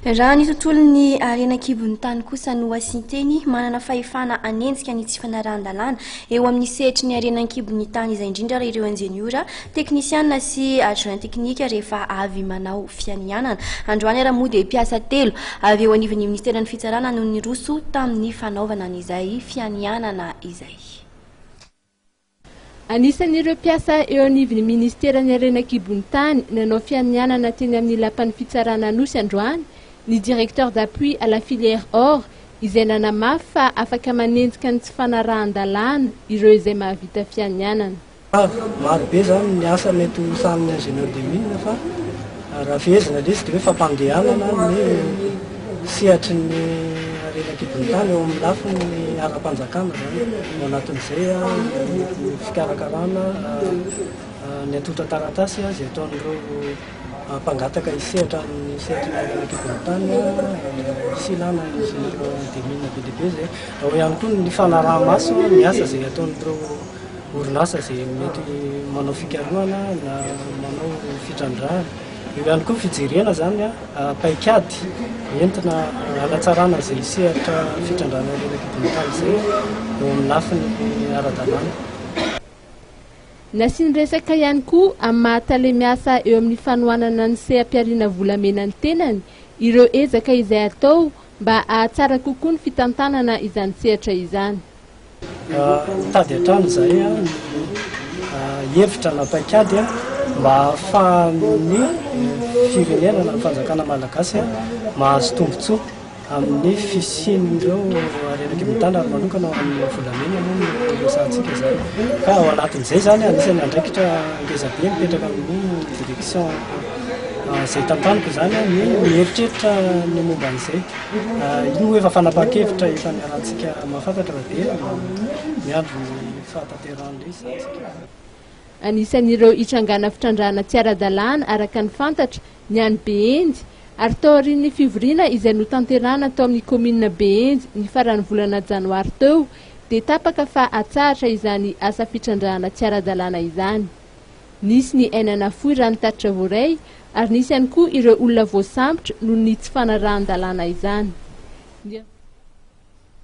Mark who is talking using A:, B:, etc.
A: Raha ny tontolon'ny harena an-kibon'ny tany kosa no asian-teny, manana fahefana hanenjika ny tsy fanarahan-dalàna eo amin'ny sehatry ny harena an-kibon'ny tany izay indrindra ary ireo injeniora, teknisiana sy adjoint teknika rehefa avy manao fianianana. Androany ary moa dia mpiasa telo avy eo anivon'ny minisiteran'ny fitsarana no niroso tamin'ny fanaovana an'izay fianianana izay.
B: Anisan'ireo mpiasa eo anivon'ny ministeran'ny harena an-kibon'ny tany nanao fianianana teny amin'ny lapan'ny fitsarana Anosy androany ny directeur d'appui à la filière or izay nanamafy fa afaka manenjika ny tsy fanarahan-dalàna ireo izay mahavita fianianana. Maro
C: be izany ny asa mety ho sahanin'ny ingénieur des mines fa. Raha fehezina ilay izy dia hoe fampandehanana ny sehatry ny harena an-kibon'ny tany eo amin'ny lafiny ara-panjakana izany. Ao anatin'izay ny fikarakarana ny atolotra taratasy izay ataon'ireo mpangataka hisehatra amin'ny sehatry ny harena an-kibon'ny tany sy ilàna ingénieur des mines be dia be izay. Ao ihany koa ny fanaraha-maso ny asa izay ataon'ireo. orinasa izay mety manao fikarohana na manao fitrandrahana. Eo ihany koa ny fijerena izany paikady entina hanatsarana izay sehatra fitrandrahana ireny kibon'akala izay eo amin'ny lafiny ara-dalàna.
B: Nasiany resaka ihany koa amin'ny maha tale miasa eo amin'ny fanohanana ny seha-pihariana volamena ny tenany ireo ezaka izay atao mba hahatsara kokoa ny fitantanana izany sehatra izany. Mitady
C: hatrany izahay hevitra na paikady mba hahafahan'ny firenena na ny fanjakana malagasy mahazo tombontsoa amin'ny fisian'ireo harena kely mitana ary manokana ho an'ny volamena moa no iresahantsika izany. Ka ao anatin'izay izany anisan'ny andraikitra ngezabe mipetraka amin'ny direction izay tantaniko izany ny mieritreritra ny momba an'izay. Io efa fanapahan-kevitra efa niarahantsika mahafantatra raha be no miandry ny fahatanterahan'ilay izy izany isika. Anisan'ireo
B: hitrangana fitrandrahana tsy ara-dalàna araka ny fantatra ny any Behendy ary tao aorian'ny fivoriana izay notanterahana tao amin'ny kaominina Behendy ny faran'ny volana janoary teo dia tapaka fa hatsahatra izany asa fitrandrahana tsy ara-dalàna izany. Nisy ny aina nafoy raha ny tatitra voaray ary nisy ihany koa ireo olona voasambotra noho ny tsy fanarahan-dalàna izany.